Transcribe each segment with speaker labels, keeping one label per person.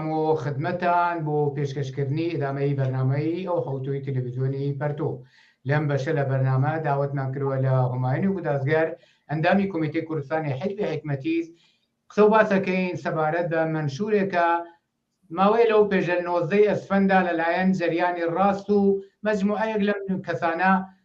Speaker 1: بۆ خدمەتتان بۆ پێشکەشکردنی ئیدامەی بەرنامەی ئەو حەوتووی تەلەڤیزیۆنی پەرتۆ لەم بەشە لە بەرنامە داوەتمان کردوە لە هومایونی گودازگەر ئەندامی کۆمیتەی کوردستانی حیزبی حیکمەتیز قسە و باسەکەین سەبارەت بە مەنشورێکە ماوەی لەو پێشە نۆزدەی ئەسفەندا لەلایەن جەریانی ڕاست و مەجموعەیەک لەم کەسانە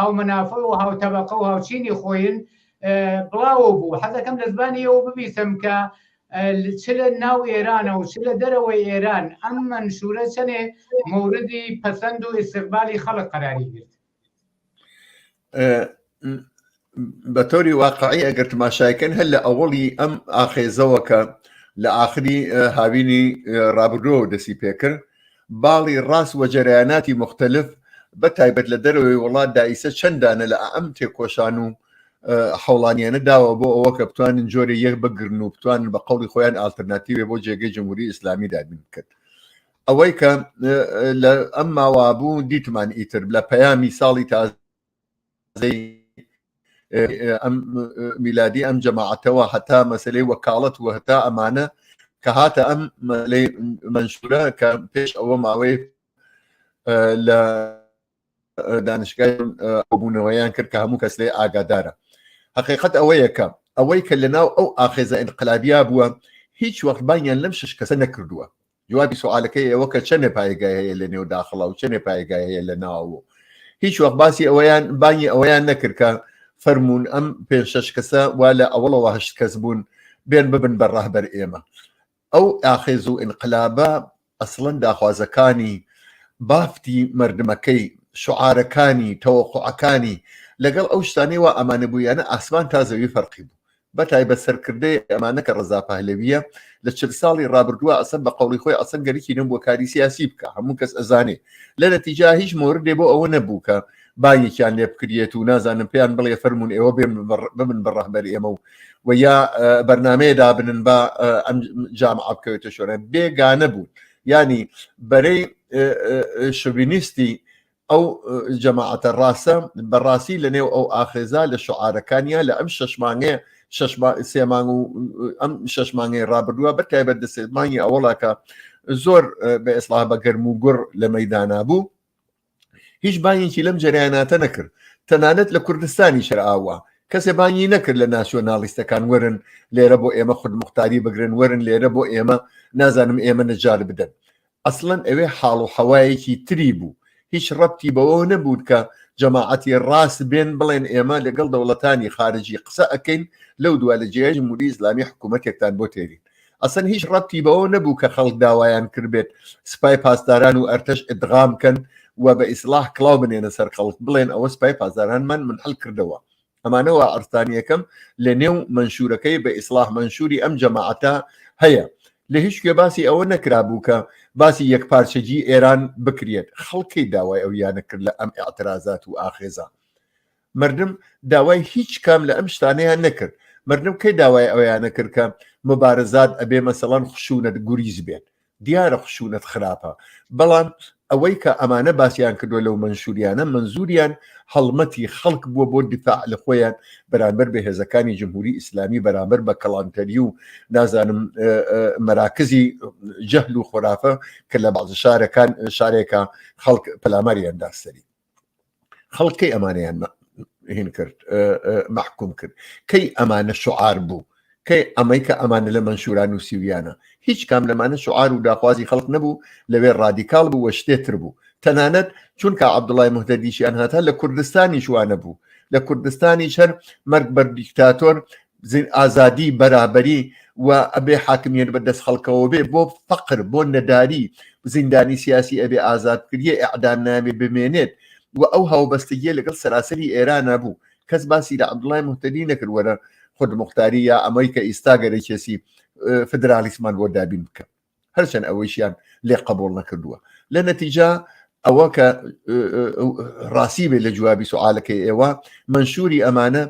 Speaker 1: هاومنافە و هاوتەبەقە و هاوچینی خۆین بڵاوە بوو حەزەکەم لە زبانی ئەوە ببیسم کە چ لە ناو ئێرانە و چ لە دەرەوەی ئێران ئەم منشورە چەنێ موردی پەسەند و ئیسقبالی خەڵک قەراری گرت
Speaker 2: بە تۆری واقعی ئەگەر تماشایکەن هەر لە ئەوڵی ئەم ئاخێزەوە کە لە ئاخری هاوینی رابرۆ دەسی پێکرد باڵی ڕاست وجەرەیاناتی موختەلف بە تایبەت لە دەرەوەی وڵات دا ئیسە چەند دانە لە ئەئەم تێکۆشان و حوڵانیانە داوە بۆ ئەوە کە بتوانن جۆرە یەک بگرن و بتوانن بە قەڵی خۆیان ئالتەرناتیوێ بۆ جێگەی جمهوری ئیسلامی دابین بکرد ئەوەی کە لە ئەم ماوابوو دیتمان ئیتر لە پەیامی ساڵی تازە ئەم میلادی ئەم جەماعەتەوە هەتا مەسلەی وەکاڵەت و هەتا ئەمانە کە هاتە ئەم مەلەی منشورە کە پێش ئەوە ماوەی لە دانیشگای بوونەوەیان کرد کە هەموو کەس لێ ئاگادارە حقیقت ئەوەیەکە ئەوەی کە لە ناو ئەو ئاخێزە انقلابیا بووە هیچ وەختبانیان لەم شش کەسە نەکردووە جوابی سوالەکەی ئەوە کە چەندێ پایگای هەیە لە نێو داخڵا و چەندێ پایگای هەیە لە ناوە هیچ وەخت باسی ئەوەیان بانگی ئەوەیان نەکردکە فەرمونون ئەم پێ شش کەسە وا لە ئەوڵەوە هەشت کەس بوون بێن ببن بە ڕەهبەر ئێمە ئەو ئاخێز و ئینقلابە ئەسڵەن داخوازەکانی بافتی مردمەکەی شعارەکانی تەوەقعەکانی لەگەڵ ئەو شتانەی وە ئەمانە بوویانە ئاسمان تا زەوی فەرقی بوو بە تایبەت سەرکردەی ئەمانە کە ڕەزا پەهلەویە لە چل ساڵی ڕابردووە ئەسەن بە قەوڵی خۆی ئەسەن گەرکی نەبووە کاری سیاسی بکە هەموو کەس ئەزانێ لە نەتیجا هیچ مۆردێ بۆ ئەوە نەبوو کە بانگێکیان لێ بکرێت و نازانم پێیان بڵێ فەرمونون ئێوە بێن ببن بە ڕەهبەر ئێمە و و یا بەرنمەیە دابنن بە ئەم جام ئابکەوێتە شۆرە بێگانە بوون ینی بەرەی شوینیستی ئەو جەماعەتە ڕاستە بەڕاستی لە نێو ئەو ئاخێزا لە شعاعرەکانیا لە ئەم شەشمانێ سێمان و ئەم شەشمانگەی ڕابردووە بە تایبەت دە سێمانی ئەوڵاکە زۆر بە ئێسڵا بە گەرم و گوڕ لە مەدانا بوو هیچ بانیکی لەم جریاناتە نەکرد تەنانەت لە کوردستانی شرئاوە کەسێ بانگی نەکرد لە ناسیۆنالیستەکان وەرن لێرە بۆ ئێمە خود مختاری بگرن وەرن لێرە بۆ ئێمە نازانم ئێمە نەجار بدەن ئەسڵەن ئەوێ حاڵ و حەوایەکی تری بوو هیچ ڕەبتی بەوەوە نەبوو کە جەماعەتی ڕاست بێن بڵێن ئێمە لەگەڵ دەوڵەتانی خارجی قسە ئەکەین لەو دوا لە جێای جمهوری ئیسلامی حکوومەتێکتان بۆ تێرین ئەسەن هیچ ڕەبتی بەوە نەبوو کە خەڵک داوایان کردبێت سپای پاسداران و ئەرتەش ئدغام کەن و بە ئیسلاح کلااو بنێنە سەر خەڵک بڵێن ئەوە سپای پاسداران من من هەل کردەوە ئەمانەوە عرفانیەکەم لە نێو منشورەکەی بە ئیسلاح منشوری ئەم جەماعەتە هەیە لە هیچ کوێ باسی ئەوە نەکرابوو کە باسی یەک پارچەجی ئێران بکرێت خەڵکی داوای ئەو یانە کرد لە ئەم اعتراازات و ئاخێزە مردم داوای هیچ کام لە ئەم شتانەیان نەکرد مردم کەی داوای ئەویانە کرد کە مبارزات ئەبێ مەسەڵەن خشونەت گوریز بێت دیارە خشونەت خراپە بەڵام ئەوەی کە ئەمانە باسییان کردووە لەو منشوریانە منزوریان هەڵمەتی خەڵک بووە بۆ دفاع لە خۆیان بەرامبەر بە هێزەکانی جمهوری ئیسلامی بەرامبەر بە کەڵانتەری و نازانم مەراکزی جەهل و خۆرافە کە لە بازە شارەکان شارێکە خەڵک پەلاماریان داستری خەڵک کەی ئەمانیان هین کرد محکوم کرد کەی ئەمانە شعار بوو کەی ئەمەی کە ئەمانە لە منشوران و سیویانە هیچ کام لەمانە شعار و داخوازی خەڵک نەبوو لەوێ ڕادیکال بوو وە شتێتر بوو تەنانەت چونکە عبدوڵای مهدەدیشیان هاتا لە کوردستانی شوانە بوو لە کوردستانی شەر مەرگ بەر دیکتاتۆر ئازادی بەرابەری و ئەبێ حاکمیت بە دەست خەڵکەوە بێ بۆ فەقر بۆ نەداری زیندانی سیاسی ئەبێ ئازاد کردیە ئەعدام نامێ بمێنێت و ئەو هاوبەستگیە لەگەڵ سەراسەری ئێرانە بوو کەس باسی لە عبدڵای مهتەدی نەکرد وەرە خود مختاری یا ئەمەی کە ئیستا گەرەکێسی فدرالیسمان بۆ دابین بکە هەرچەند ئەوەیشیان لێ قبول نەکردووە لە نەتیجا ئەوە کە ڕاستی بێت لە جوابی سوعاالەکەی ئێوە منشوری ئەمانە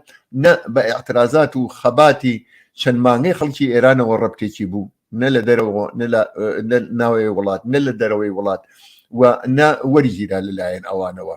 Speaker 2: نە بە اعترازات و خەباتی چەند مانگەی خەڵکی ئێرانەوە ڕبتێکی بوو نە لە دەرەوە ناوەیە وڵات نە لە دەرەوەی وڵات و نە وەریگیرا لەلایەن ئەوانەوە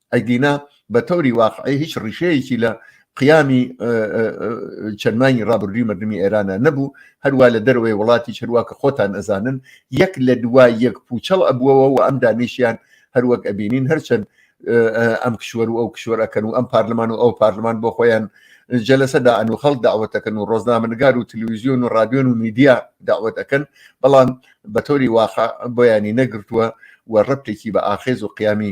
Speaker 2: ئەگینا بە تەوری واقعی هیچ ڕیشەیەکی لە قیامی چەندمانی ڕابردوی مردمی ئێرانە نەبوو هەروە لە دەروێ وڵاتی چروا کە خۆتان ئەزانن یەک لە دوا یەک پوچەڵ ئەبووەوە و ئەم دانیشیان هەروەک ئەبینین هەرچەند ئەم کشوەر و ئەو کشوەرەکەن و ئەم پارلمان و ئەو پارلمان بۆ خۆیان جەلەسەدا ئەن و خەڵ داوەتەکەن و ڕۆزنامەنگار و تلویزیۆن و رادیۆن و میدیا داوەتەکەن بەڵام بە تۆری واخە بۆیانی نەگرتووە و ڕپتێکی بە ئاخێز و قیامی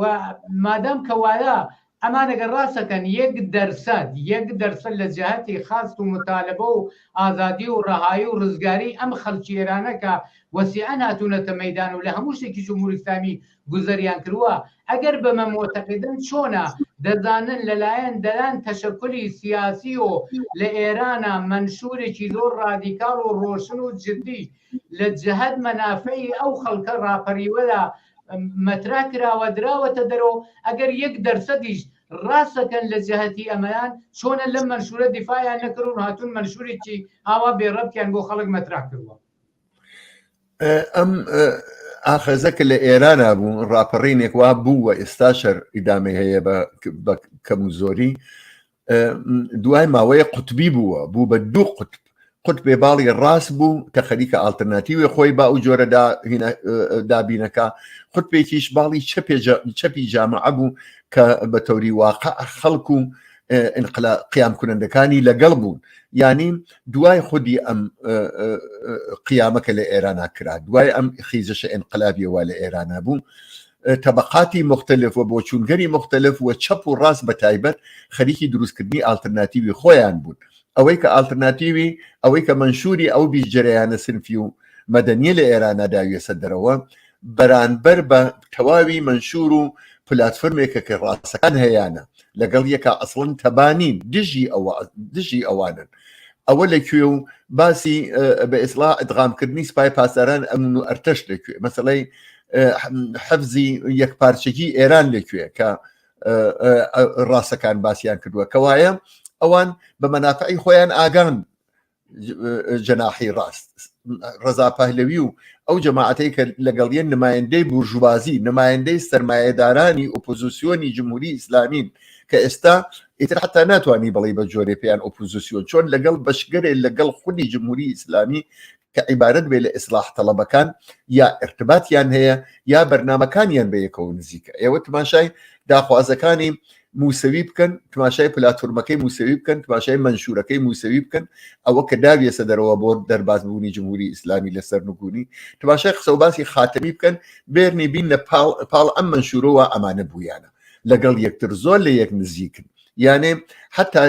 Speaker 1: و مادام کە وایە ئەمان ئەگەر ڕاستەکەن یەک دەرسەد یەک دەرسەد لە جەهەتی خاست و متالبە و ئازادی و ڕەهایی و ڕزگاری ئەم خەلکی ئێرانە کە وەسیعەن هاتوونەتە مەیدان و لە هەموو شتێکی جمهوری ئیسلامی گوزەریان کرووە ئەگەر بەمە مۆتەقیدن چۆنە دەزانن لەلایەن دەیان تەشەکولی سیاسی و لە ئێرانە مەنشورێکی زۆر ڕادیکاڵ و ڕۆشن و جدی لە جەهەت مەنافەی ئەو خەڵکە ڕاپەریوەدا مەترا کراوە دراوەتە دەرو ئەگەر یەک دەرسەدیش ڕاستەکەن لە جەهەتی ئەمەیان چۆنە لەم مەنشورە دیفاعیان نەکرد و هاتون مەنشورێکی ئاوا بێڕەبتیان بۆ خەڵک مەترا کردوە
Speaker 2: ئەم ئاخەزە کە لە ئێرانا بوو ڕاپەڕینێک وا بوو و ئێستا شەر ئیدامی هەیە بە کەم و زۆری دوای ماوەیە قوتبی بووە بوو بە دوو قوتب قوت بێ باڵی ڕاست بوو کە خەریکە ئالتەرناتیوێ خۆی با و جۆرەدا دابینەکە خود پێکیش باڵی چەپی جامعە بوو کە بە تەوری واقع خەڵکو و قیام کونندەکانی لەگەڵ بوون ینی دوای خودی ئەم قیامەکە لە ئێرانە کرا دوای ئەم خیزەشە ئەنقلابیەوە لە ئێرانە بوو تەبەقاتی مختلف و بۆچوونگەری مختلف و چەپ و ڕاست بە تایبەت خەریکی دروستکردنی ئالترناتیوی خۆیان بوون ئەوەی کە ئالترناتیوی ئەوەی کە منشوری ئەو بیست جەرەیانە سنفی و مەدەنیە لە ئێرانە داویەسە دەرەوە بەرانبەر بە تەواوی منشور و پلاتفرمێکە کە ڕاستەکان هەیانە لەگەڵ یەکە ئەسڵن تەبانین دژی ئەوە دژی ئەوانن ئەوە لە کوێ و باسی بە ئێسلا ئەدغامکردنی سپای پاسداران ئەمن و ئەرتەش لەکوێ مەسلەی حەفزی یەک پارچەکی ئێران لەکوێ کە ڕاستەکان باسییان کردووە کەوایە ئەوان بە مەنافعی خۆیان ئاگان جەناحی ڕاست ڕزا پەهلەوی و ئەو جەماعەتەی کە لەگەڵیان نمایندەی بورژوازی نمایندەی سرمایهدارانی ئۆپۆزیسیۆنی جمهوری ئیسلامین کە ئێستا ئیتر حتا ناتوانانی بڵی بە جۆرێ پێیان ئۆپۆزیسیۆن چۆن لەگەڵ بەشگەرێ لەگەڵ خودی جمهوری ئیسلامی کە عیبارەت بێ لە ئیسلاح تەڵەبەکان یا ارتباتیان هەیە یا بەرنمەکانیان بە یەکەوە نزیکە ئێوە تماشای داخوازەکانی موسەوی بکەن تماشای پلاتورمەکەی موسەوی بکەن تماشای منشورەکەی موسەوی بکەن ئەوە کە داویێسە دەرەوە بۆ دەربازبوونی جمهوری ئیسلامی لەسەر نگونی تماشای قسە و باسی خاتەمی بکەن بێرنی بین لە پاڵ ئەم منشورەوە ئەمانە بوویانە لەگەڵ یەکتر زۆر لە یەک نزیکن یانێ حتا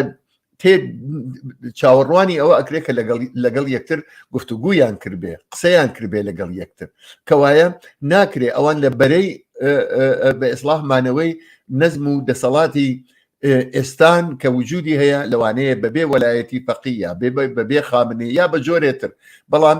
Speaker 2: تێ چاوەڕوانی ئەوە ئەکرێت کە لەگەڵ یەکتر گفتوگویان کردێ قسەیان کردێ لەگەڵ یەکتر کەوایە ناکرێ ئەوان لە بەرەی بە ئیسلاح مانەوەی نەزم و دەسەڵاتی ئێستان کە وجودی هەیە لەوانەیە بەبێ وەلایەتی فەقیە بەبێ خامنێ یا بە جۆرێتر بەڵام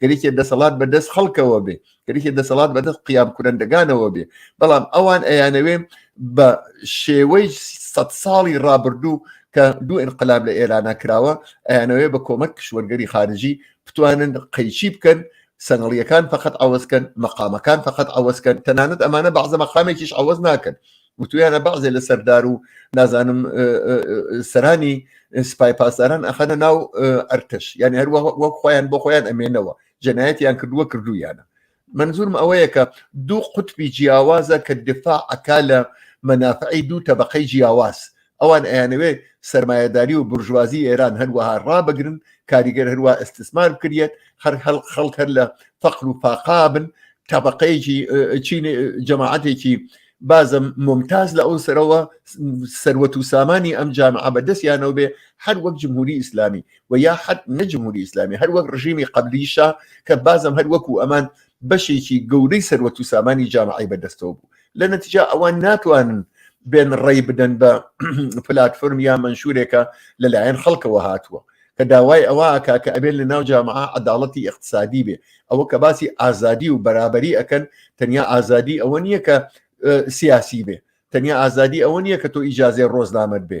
Speaker 2: کەریکێ دەسەڵات بە دەست خەڵکەوە بێ کەریکێ دەسەڵات بە دەست قیام کورندەگانەوە بێ بەڵام ئەوان ئەیانەوێ بە شێوەی سە ساڵی ڕابردوو کە دوو انقلاب لە ئێرانە کراوە ئەیانەوەێ بە کۆمەک کشوەرگەری خارجی بتوانن قەیچی بکەن سەنگڵیەکان فقط ئەوەزکەن مەقامەکان فقط ئەوەزکەن تەنانەت ئەمانە بەعزە مەقامێکیش ئەوەز ناکەن وتویانە بەعزێ لە سەردار و نازانم سەرانی سپای پاسداران ئەخەنە ناو ئەرتش یان هەر وەک خۆیان بۆ خۆیان ئەمێنەوە جەنایەتیان کردووە کردویانە منزورم ئەوەیە کە دوو قوتبی جیاوازە کە دفاع ئەکا لە مەنافعی دوو تەبقەی جیاواز ئەوان ئەیانەوێ سەرمایەداری و برژوازی ئێران هەروەها ڕابگرن کاریگەر هەروە ئەستسمان بکرێت هەر هەڵ خەڵک هەر لە فەقر و فاقابن تابقەیەکی چین جەماعاتێکی بازە ممتاز لە ئەو سەرەوە سەروەت و سامانی ئەم جامعە بەدەستیانەوە بێ هەر وەک جمهوری ئیسلامی و یا حد نەجمهوری ئیسلامی هەر وەک ڕژیمی قبلیشە کە بازم هەر وەکو ئەمان بەشێکی گەورەی سەروەت و سامانی جامعی بەدەستەوە بوو لە نەتیجا ئەوان ناتوانن بێن ڕێی بدەن بە پلاتفۆرم یا منشورێکە لەلایەن خەڵکەوە هاتووە کە داوای ئەوە کا کە ئەبێت لە ناو جامع عداڵەتی اقتصادی بێ ئەوە کە باسی ئازادی و بەرابری ئەەکەن تەنیا ئازادی ئەوە نییە کە سیاسی بێ تەنیا ئازادی ئەوە نییە کە تۆ ئیجاازێ ڕۆزنامەت بێ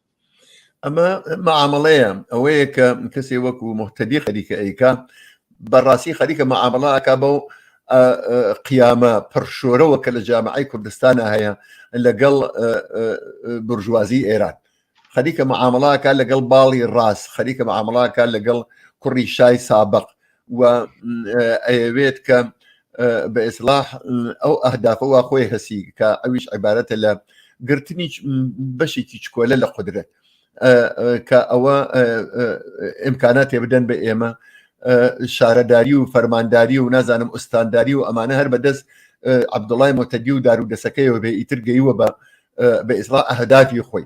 Speaker 1: ئەمە
Speaker 2: معاملەیە ئەوەیە کە کەسێ وەکو محتەدی خەریکە ئەیکا بەڕاستی خەریکە معاملەکە بەو قیامە پڕشۆرەوە کە لە جامعی کوردستانە هەیە لەگەڵ برژوازی ئێران خەریکە معاملەکە لەگەڵ باڵی ڕاست خەریکە معاملەکە لەگەڵ کوڕی شای سابق و ئەیەوێت کە بە ئێسلاح ئەو ئەهدافەوە خۆی هەسی کە ئەویش عیبارەتە لە گرتنی بەشێکی چکۆلە لە قدرێت کە ئەوە ئەمکاناتێ بدەن بە ئێمە شارەداری و فەرمانداری و نازانم ئوستانداری و ئەمانە هەر بەدەست عبدوڵای مۆتەدی و دارودەسەکەیەوە بێ ئیتر گەیوە بە بە ئیسرا ئەهدافی خۆی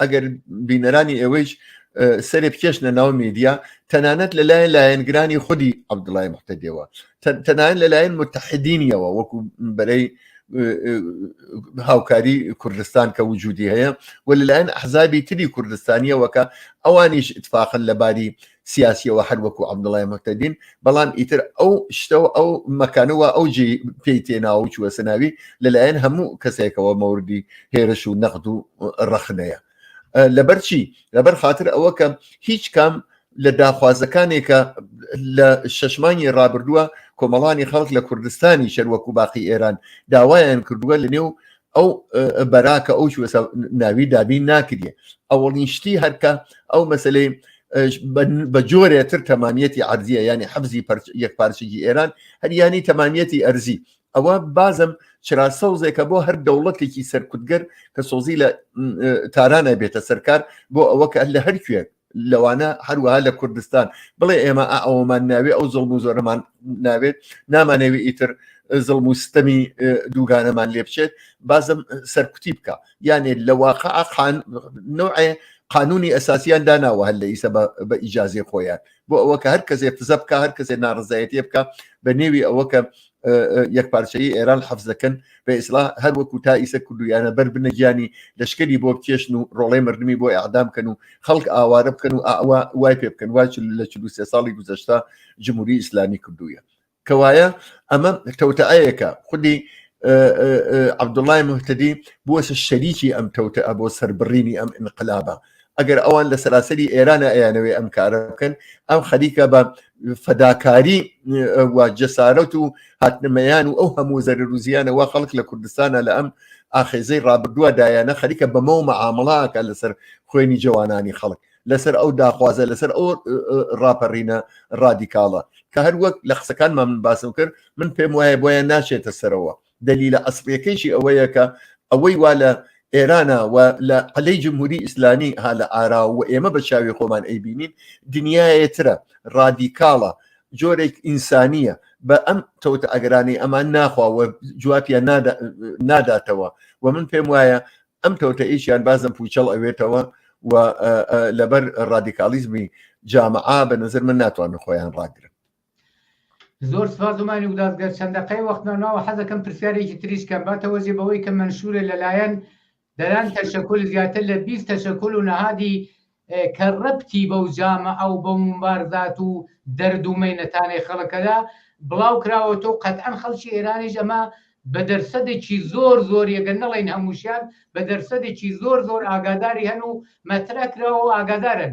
Speaker 2: ئەگەر بینەرانی ئێوەیش سەرێ بکێشنە ناو میدیا تەنانەت لەلایەن لایەنگرانی خودی عبدڵای محتەدەوە تەنان لەلایەن متحدینیەوە وەکو بەرەی هاوکاری کوردستان کە وجودی هەیە و لەلایەن حزابی تری کوردستانیەوەکە ئەوانیش اتفاقن لەباری سیاسیەوە هەر وەکو عبدڵای مەتەدین بەڵام ئیتر ئەو شتەوە ئەو مەکانەوە ئەو جێ پێی تێناوە چوە سەناوی لەلایەن هەموو کەسێکەوە مەوردی هێرش و نەخت و ڕەخنەیە لەبەر چی لەبەر خاطر ئەوە کە هیچ کام لە داخوازەکانێکە لە شەشمانی ڕابردووە کۆمەڵانی خەڵک لە کوردستانی شەروەکو باقی ئێران داوایان کردووە لە نێو ئەو بەراکە ئەو ناوی دابین ناکرێ ئەوڵین شتی هەرکە ئەو مەسلەی بە جۆرێتر تەمامیەتی ئەرزیە ینی حەفزی یەک پارچگی ئێران هەریانی تەمامیەتی ئەرزی ئەوە بازم چرا سەوزێکە بۆ هەر دەوڵەتێکی سەرکوتگەر کە سۆزی لە تارانە بێتە سەرکار بۆ ئەوە کە لە هەر کوێ لەوانە هەروەها لە کوردستان بڵێ ئێمە ئەومان ناوێ ئەو زڵم و زۆرەمان ناوێت نامانەوێ ئیتر زڵم و ستەمی دووگانەمان لێ بچێت بازم سەرکوتی بکە یانێ لە واقع ئاخان نوعێ قانونی ئەساسیان داناوە هەر لە ئیسە بە ئیجاازی خۆیان بۆ ئەوە کە هەر کەسێ فزە بکە هەر کەسێ ناڕزایەتی بکە بە نێوی ئەوە کە یەکپارچەیی ئێران حەفز دەکەن بە ئیسلا هەر وەکو تا ئیسە کوردویانە بەر بنەگیانی لەشکری بۆ بکێشن و ڕۆڵەی مردمی بۆ ئەعدام بکەن و خەڵک ئاوارە بکەن و ئاوا وای پێ بکەن واچ لە چ سێ ساڵی گوزەشتا جمهوری ئیسلامی کردووە کەوایە ئەمە تەوتەعەیەکە خودی عبدوڵای مهتدی بووە شەریکی ئەم تەوتە بۆ سەربڕینی ئەم انقلابە ئەگەر ئەوان لە سەراسەری ئێرانە ئەیانەوەی ئەم کارە بکەن ئەم خەریکە بە فەداکاری جەسارەت و هاتنمەیان و ئەو هەموو زەر روزیانەوە خەڵک لە کوردستانە لە ئەم ئاخێزەی ڕابردووە دایانە خەریکە بەمەوە مەعامڵاکە لەسەر خوێنی جوانانی خەڵک لەسەر ئەو داخوازە لەسەر ئەو ڕاپەڕینە ڕادیکاڵە کە هەروەک لە قسەکانمان من باسم کرد من پێم وایە بۆیان ناشێتە سەرەوە دەلیلە ئەسڵیەکەیشی ئەوەیە کە ئەوەی وا لە ئێرانە و لە عەلەی جمهوری ئیسلامی ها لە ئارا و ئێمە بە چاوی خۆمان ئەیبینین دنیایەترە ڕادیکاڵە جۆرێک ئینسانیە بە ئەم تەوتە ئەگەرانی ئەمان ناخوا و جوابیان ناداتەوە و من پێم وایە ئەم تەوتە ئیشیان بازم پوچەڵ ئەوێتەوە و لەبەر ڕادیکالیزمی جامعا بە نظر من ناتوانن خۆیان ڕاگرن
Speaker 1: زۆر سپاس زمانی گوداز گەر چەند دەقەی وەختمان ناوە حەزەکەم پرسیارێکی تریش کەم باتەوەزی بەوەی کە منشورە لەلایەن دەران تەشەکل زیاتر لە 20 تەشەکل و نەهادی کە ڕەبتی بەو جامە ئەو بە ممبارزات و دەرد و مەینەتانەی خەڵکەدا بڵاو کراوە تۆ قەتئەن خەڵکی ئێرانیش ئەمە بە دەرسەدێکی زۆر زۆر یەگە نەڵین هەمووشیان بە دەرسەدێکی زۆر زۆر ئاگاداری هەن و مەترەکراوە و ئاگادارن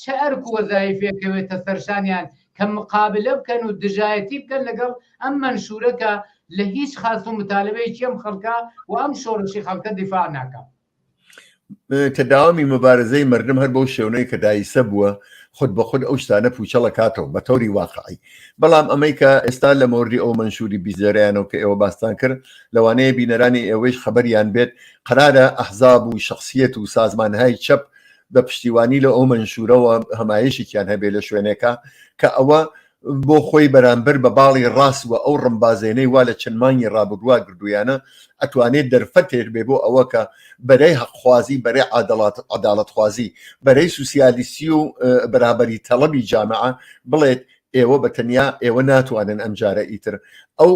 Speaker 1: چ ئەرک و وەزایفێک کەوێتە سەرشانیان کە مقابلە بکەن و دژایەتی بکەن لەگەڵ ئەم مەنشورە کە لە هیچ خاست و متالبەیەکی ئەم خەڵکە و ئەم شۆڕشی خەڵکە دیفاع ناکە
Speaker 2: کە داوامی مبارزەی مردم هەر بەو شێونەی کە دایسە بووە خود بە خود ئەو شتانە پوچەڵە کاتەوە بە تەوری واقعی بەڵام ئەمەی کە ئێستا لە مۆردی ئەو منشوری بیزێریانەوە کە ئێوە باستان کرد لەوانەیە بینەرانی ئێوەیش خەبەریان بێت قرارە ئەحزاب و شخصیت و سازمانهای چەپ بە پشتیوانی لە ئەو منشورەوە هەمایشێکیان هەبێ لە شوێنێکە کە ئەوە بۆ خۆی بەرامبەر بە باڵی ڕاست و ئەو ڕمبازێنەی وا لە چەند مانگی ڕابردووا گردویانە ئەتوانێت دەرفەتێر بێ بۆ ئەوە کە بەرەی حەقخوازی بەرەی عادڵات عداڵتخوازی بەرەی سوسیالیسی و بەرابەری تەڵەبی جامعە بڵێت ئێوە بە تەنیا ئێوە ناتوانن ئەمجارە ئیتر ئەو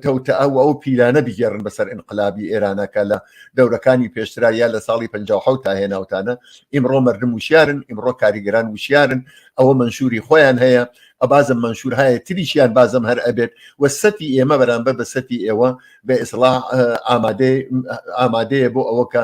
Speaker 2: تەوتە ئەو ئەو پیلانە بگێڕن بەسەر ئینقلابی ئێرانەکە لە دەورەکانی پێشترا یا لە ساڵی 1950 تا هێناوتانە ئیمڕۆ مردم وشیارن ئیمڕۆ کاریگەران وشیارن ئەوە منشوری خۆیان هەیە ئەبازم منشور هەیە تریشیان بازم هەر ئەبێت و سەتی ئێمە بەرامبەر بە سەتی ئێوە بە ئیسڵا ئامادەیە بۆ ئەوە کە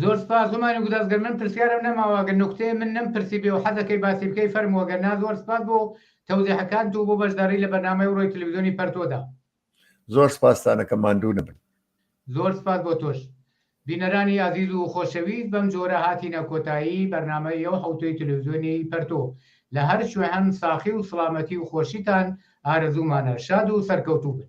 Speaker 2: زۆر
Speaker 1: سپاس زمانی گوداز گەر من پرسیارم نەماوە گەر نکتەیە من نەم پرسی بێ و حەزەکەی باسی بکەی فەرمووە گەر نا زۆر سپاس بۆ تەوزیحەکانت و بۆ بەشداری لە بەرنامەی ڕۆی تلویزیۆنی پەرتۆدا
Speaker 2: زۆر
Speaker 1: سپاستانەکە
Speaker 2: ماندوو نەبن
Speaker 1: زۆر سپاس بۆ تۆش بینەرانی ئازیز و خۆشەویست بەم جۆرە هاتینە کۆتایی بەرنمەی یو حوتەی تلویزیۆنی پەرتۆ لە هەر شوێ هەن ساخی و سڵامەتی و خۆشیتان ئارەزوومانە شاد و سەرکەوتوو بن